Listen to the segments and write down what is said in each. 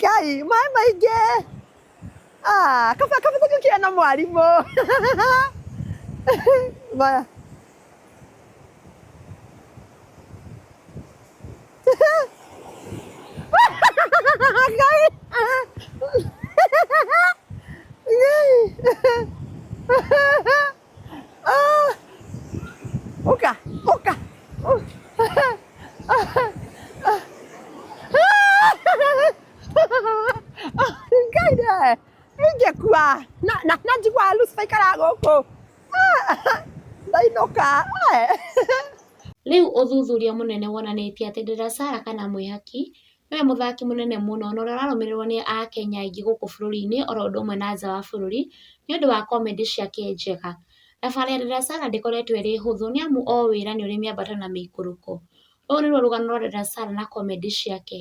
kai maĩ maingĩ Ah, kaba kaba tũkĩ kĩana mwarimũ maya Ngai. Ngai. Ah! Oka! Oka! Oh. ngai nä ingä kua na na na njiguaga lucy aikara gå kå ndainåka Rĩu ũthuthuria mũnene wonanĩtie atĩ Dela Sarah kana mwĩhaki Nĩ we mũthaki mũnene mũno na ũrĩa ũrarũmĩrĩrwo nĩ Akenya aingĩ gũkũ bũrũri-inĩ o ũndũ ũmwe na nja wa bũrũri nĩ ũndũ wa comedy ciake njega. Thabarĩ ya Dada Sarah ndĩkoretwo ĩrĩ hũthũ nĩ amu o wĩra nĩ ũrĩ mĩambato na mĩikũrũko. Rũrũ nĩruo rũgano rwa Dada Sarah na comedy ciake.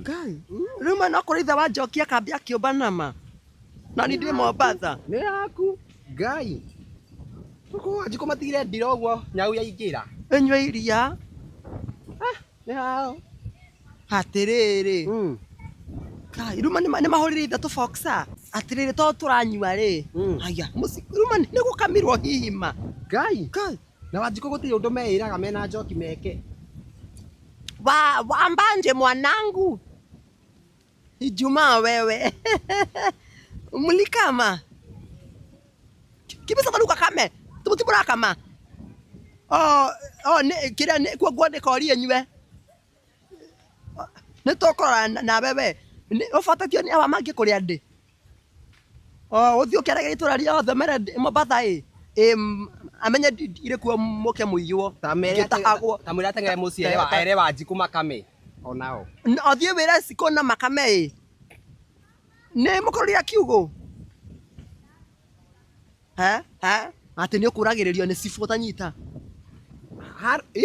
Ngai. Rĩu mwena wa kũrĩa ithe wa Njoki akambia akĩũmba nama. Na ni ndĩ Mombasa. Nĩ yaku. Ngai. Ũkũ wanjikũ matigire ndira ũguo nyau yaingĩra. Ĩnyue iria. Ah, nĩ hao. Atĩrĩrĩ. Mm. Ngai. Rĩu ma- nĩ ma- nĩ mahũrire ithe tũboxa. Atĩrĩrĩ to tũranyua rĩ. Mm. Aya. Rĩu ma- nĩ gũkamirwo hihi ma. Ngai. Ngai. Na Wanjikũ gũtirĩ ũndũ meĩraga mena njoki meke. Wa, wa Mbanje mwanangu. Ijumaa wewe. Mlikama. Kibisa taruka kame. Tubuti murakama. Oh, oh, ne, kira ne kwa kwa ne kori enywe. Nĩ tũkũrora nawe we. Ũbatĩtio nĩ awa mangĩkũrĩa ndĩ? Oo ũthiĩ ũkerage itũra rĩothe ũmere ndĩ Mombatha ĩ, ĩ amenye ndirĩ kuo mũke mũiywo, ngĩtahagwo. Ta mwĩre ateng'ere mũciĩ ere wa- ere Wanjikũ makame o nao. N- Ũthiĩ wĩre cikũ na makame ĩ. Nĩ mũkũrũria kiugũ? He, he, atĩ nĩ ũkũragĩrĩrio nĩ cibũ ũtanyita. Har- ĩ?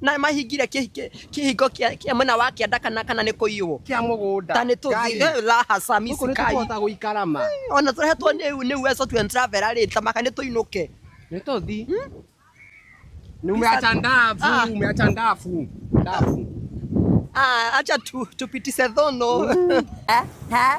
na mahingire kĩ- kĩ- kĩhingo kĩa kĩa mwena wa kĩanda kana kana nĩ kũiywo kĩa mũgũnda ta nĩ Ngai, tũthiĩ lahasa gũkũ nĩ misikai tũkũhota gũikara ma ona tũrehetwo nĩ nĩ uwezo tu and travel rĩ tamaka nĩ tũinũke nĩ tũthi Ni umeacha ndafu Ah. umeacha ndafu ndafu ah acha tu tupitishe thono eh eh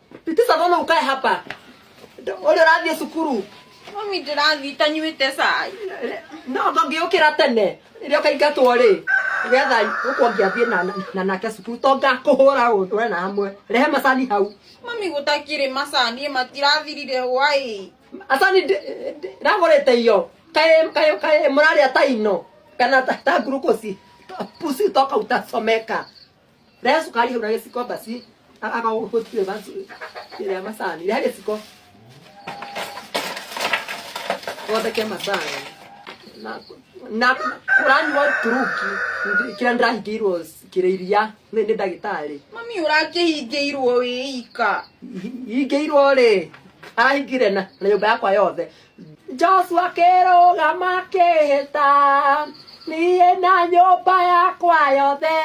Tisa mbona ukae hapa? Ole rathie sukuru. Mami ndĩrathiĩ itanyuĩte cai. No ndũngĩũkĩra tene. Rĩrĩa ũkaingatwo rĩ. Getha gũkũ ngĩathiĩ na na nake sukuru to ngakũhũra ũndũ na amwe. Rehe macani hau. Mami gũtakĩrĩ macani matirathirire hwaĩ. Asani ragũrĩte iyo. Kaĩ kaĩ kaĩ mũrarĩa ta ino. Kana ta, ta ngurukosi. Pusi toka utasomeka. Rä sukari hau na gĩciko basi a- akagũtire basi ĩrĩa macani rĩa gĩciko gotheke macani na na kũranyua turuki ndi- kĩrĩa ndĩrahingĩirwo kĩrĩ iria nĩ nĩ ndagĩtarĩ mami ũrakĩhingĩirwo wĩika ingĩirwo rĩ arahingire na na nyũmba yakwa yothe Joshua kĩrũgama kĩhĩta niĩ na nyũmba yakwa yothe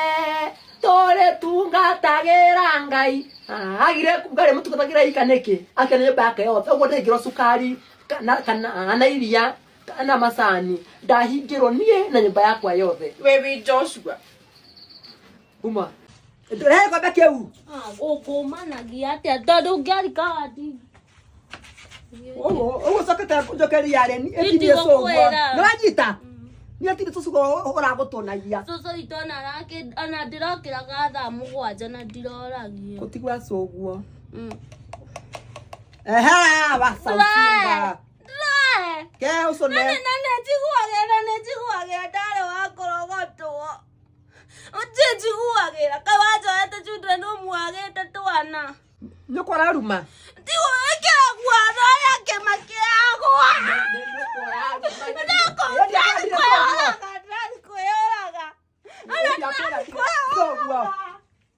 tũrĩ tungatagĩra ngai Ah, agire kuga rĩ mũtungatagĩra ika nĩkĩ akĩona nyũmba yake yothe ũguo ndĩngĩrwo cukari kana- kana na iria kana macani ndahingĩrwo niĩ na nyũmba yakwa yothe Wewe Joshua. Uma. Rehe ngombe kĩu. Ũkũmanagia atĩa tondũ ngĩarika wati. Ũguo ũguo cokete njokeria reni ĩkinyie cũgua. Itigũkwĩra. Nĩ wanyita? Nĩ atirĩ cũcũgwa ũragũtũnagia. Cũcũ witũ ona arake- ona ndĩrokĩraga thaa mũgwanja na ndiroragio. Gũtigwa cũguo. Mm. Ehe, wacaucinga. Ndũre! Ke ũcũne. Nani nani njiguagĩra nĩ njiguagĩra ndarĩ wa kũrogotwo. Nje njiguagĩra kawanjoete children ũmuagĩte twana nyũkwa araruma tigo ĩkĩra guono ũrĩa kĩma kĩagwa